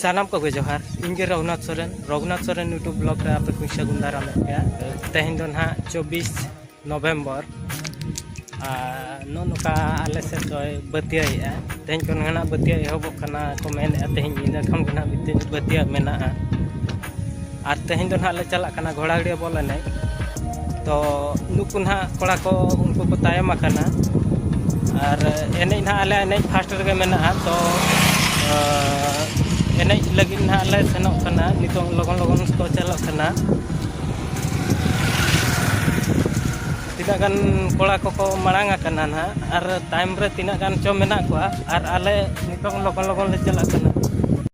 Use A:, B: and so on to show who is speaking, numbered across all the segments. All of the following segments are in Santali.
A: ᱥᱟᱱᱟᱢ ᱠᱚᱜᱮ ᱡᱚᱦᱟᱨ ᱤᱧᱜᱮ ᱨᱚᱜᱷᱩᱱᱟᱛᱷ ᱥᱚᱨᱮᱱ ᱨᱚᱜᱷᱩᱱᱟᱛᱷ ᱥᱚᱨᱮᱱ ᱭᱩᱴᱩᱵᱽ ᱵᱞᱚᱜ ᱨᱮ ᱟᱯᱮ ᱠᱚᱧ ᱥᱟᱹᱜᱩᱱ ᱫᱟᱨᱟᱢᱮᱫ ᱯᱮᱭᱟ ᱛᱮᱦᱮᱧ ᱫᱚ ᱱᱟᱦᱟᱜ ᱪᱚᱵᱵᱤᱥ ᱱᱚᱵᱷᱮᱢᱵᱚᱨ ᱟᱨ ᱱᱚᱜᱼᱚ ᱱᱚᱝᱠᱟ ᱟᱞᱮ ᱥᱮᱫ ᱫᱚᱭ ᱵᱟᱹᱛᱭᱟᱹᱭᱮᱫᱼᱟ ᱛᱮᱦᱮᱧ ᱠᱷᱚᱱ ᱱᱟᱦᱟᱜ ᱵᱟᱹᱛᱭᱟᱹ ᱮᱦᱚᱵᱚᱜ ᱠᱟᱱᱟ ᱠᱚ ᱢᱮᱱᱮᱫᱼᱟ ᱛᱮᱦᱮᱧ ᱧᱤᱫᱟᱹ ᱠᱷᱚᱱ ᱜᱮ ᱱᱟᱦᱟᱜ ᱵᱟᱹᱛᱭᱟᱹ ᱢᱮᱱᱟᱜᱼᱟ ᱟᱨ ᱛᱮᱦᱮᱧ ᱫᱚ ᱱᱟᱦᱟᱜ ᱞᱮ ᱪᱟᱞᱟᱜ ᱠᱟᱱᱟ ᱜᱷᱚᱲᱟᱜᱟᱹᱲᱭᱟᱹ ᱵᱚᱞ ᱮᱱᱮᱡ ᱛᱚ ᱱᱩᱠᱩ ᱱᱟᱦᱟᱜ ᱠᱚᱲᱟ ᱠᱚ ᱩᱱᱠᱩ ᱠᱚ ᱛᱟᱭᱚᱢ ᱟᱠᱟᱱᱟ ᱟᱨ ᱮᱱᱮᱡ ᱱᱟᱦᱟᱜ ᱟᱞᱮ ᱮᱱᱮᱡ ᱯᱷᱟᱥᱴ ᱨᱮᱜᱮ ᱢᱮᱱᱟᱜᱼᱟ ᱛᱚ ᱮᱱᱮᱡ ᱞᱟᱹᱜᱤᱫ ᱱᱟᱦᱟᱜ ᱞᱮ ᱥᱮᱱᱚᱜ ᱠᱟᱱᱟ ᱱᱤᱛᱚᱝ ᱞᱚᱜᱚᱱ ᱞᱚᱜᱚᱱ ᱠᱚ ᱪᱟᱞᱟᱜ ᱠᱟᱱᱟ ᱛᱤᱱᱟᱹᱜ ᱜᱟᱱ ᱠᱚᱲᱟ ᱠᱚᱠᱚ ᱢᱟᱲᱟᱝ ᱟᱠᱟᱱᱟ ᱱᱟᱦᱟᱜ ᱟᱨ ᱛᱟᱭᱚᱢ ᱨᱮ ᱛᱤᱱᱟᱹᱜ ᱜᱟᱱ ᱪᱚ ᱢᱮᱱᱟᱜ ᱠᱚᱣᱟ ᱟᱨ ᱟᱞᱮ ᱱᱤᱛᱚᱝ ᱞᱚᱜᱚᱱ ᱞᱚᱜᱚᱱ ᱞᱮ ᱪᱟᱞᱟᱜ ᱠᱟᱱᱟ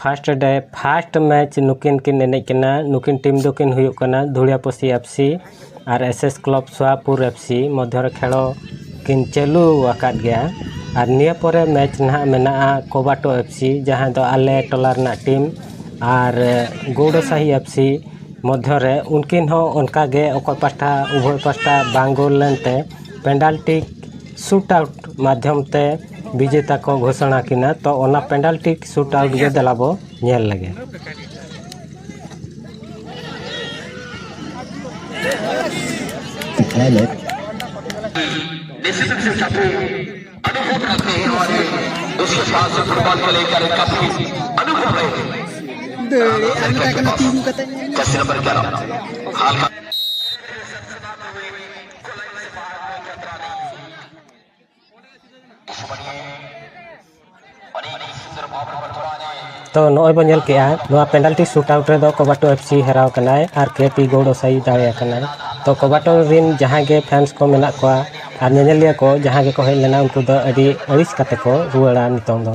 A: ᱯᱷᱟᱥᱴ ᱰᱮ ᱯᱷᱟᱥᱴ ᱢᱮᱪ ᱱᱩᱠᱤᱱ ᱠᱤᱱ ᱮᱱᱮᱡ ᱠᱟᱱᱟ ᱱᱩᱠᱤᱱ ᱴᱤᱢ ᱫᱚᱠᱤᱱ ᱦᱩᱭᱩᱜ ᱠᱟᱱᱟ ᱫᱷᱩᱲᱤᱭᱟᱯᱟᱹᱥᱤ F C R S S club Sowapur F C ᱢᱚᱫᱽᱫᱷᱚ ᱨᱮ ᱠᱷᱮᱞ ᱠᱤᱱ ᱪᱟᱹᱞᱩ ᱟᱠᱟᱫ ᱜᱮᱭᱟ ᱟᱨ ᱱᱤᱭᱟᱹ ᱯᱚᱨᱮ ᱢᱮᱪ ᱱᱟᱦᱟᱜ ᱢᱮᱱᱟᱜᱼᱟ ᱠᱳᱵᱟᱴᱳ ᱮᱯᱷ ᱥᱤ ᱡᱟᱦᱟᱸ ᱫᱚ ᱟᱞᱮ ᱴᱚᱞᱟ ᱨᱮᱱᱟᱜ ᱴᱤᱢ ᱟᱨ ᱜᱳᱣᱲᱳ ᱥᱟᱦᱤ ᱮᱯᱷ ᱥᱤ ᱢᱚᱫᱽᱫᱷᱚ ᱨᱮ ᱩᱱᱠᱤᱱ ᱦᱚᱸ ᱚᱱᱠᱟ ᱜᱮ ᱚᱠᱚᱭ ᱯᱟᱦᱴᱟ ᱩᱵᱷᱚᱭ ᱯᱟᱦᱴᱟ ᱵᱟᱝ ᱜᱳᱞ ᱞᱮᱱᱛᱮ ᱯᱮᱱᱟᱞᱴᱤ ᱥᱩᱴ ᱟᱣᱩᱴ ᱢᱟᱫᱽᱫᱷᱚᱢ ᱛᱮ ᱵᱤᱡᱮᱛᱟ ᱠᱚ ᱜᱷᱳᱥᱚᱱᱟ ᱠᱤᱱᱟ ᱛᱚ ᱚᱱᱟ ᱯᱮᱱᱟᱞᱴᱤ ᱥᱩᱴ ᱟᱣᱩᱴ ᱜᱮ ᱫᱮᱞᱟ ᱵᱚ ᱧᱮᱞ ᱞᱮᱜᱮ ᱛᱚ ᱱᱚᱜᱼᱚᱭ ᱵᱚᱱ ᱧᱮᱞ ᱠᱮᱜᱼᱟ ᱱᱚᱣᱟ ᱯᱮᱱᱟᱞᱴᱤ ᱥᱩᱴ ᱟᱣᱩᱴ ᱨᱮᱫᱚ ᱠᱚᱵᱟᱴᱳ ᱮᱯᱷ ᱥᱤ ᱦᱟᱨᱟᱣ ᱠᱟᱱᱟᱭ ᱟᱨ ᱠᱮ ᱯᱤ ᱜᱳᱰ ᱚᱥᱟᱭᱤ ᱫᱟᱲᱮ ᱟᱠᱟᱱᱟᱭ ᱛᱚ ᱠᱚᱵᱟᱴᱳ ᱨᱮᱱ ᱡᱟᱦᱟᱸᱭ ᱜᱮ ᱯᱷᱮᱱᱥ ᱠᱚ ᱢᱮᱱᱟᱜ ᱠᱚᱣᱟ ᱟᱨ ᱧᱮᱧᱮᱞᱤᱭᱟᱹ ᱠᱚ ᱡᱟᱦᱟᱸᱭ ᱜᱮᱠᱚ ᱦᱮᱡ ᱞᱮᱱᱟ ᱩᱱᱠᱩ ᱫᱚ ᱟᱹᱰᱤ ᱟᱹᱲᱤᱥ ᱠᱟᱛᱮ ᱠᱚ ᱨᱩᱣᱟᱹᱲᱟ ᱱᱤᱛᱚᱝ ᱫᱚ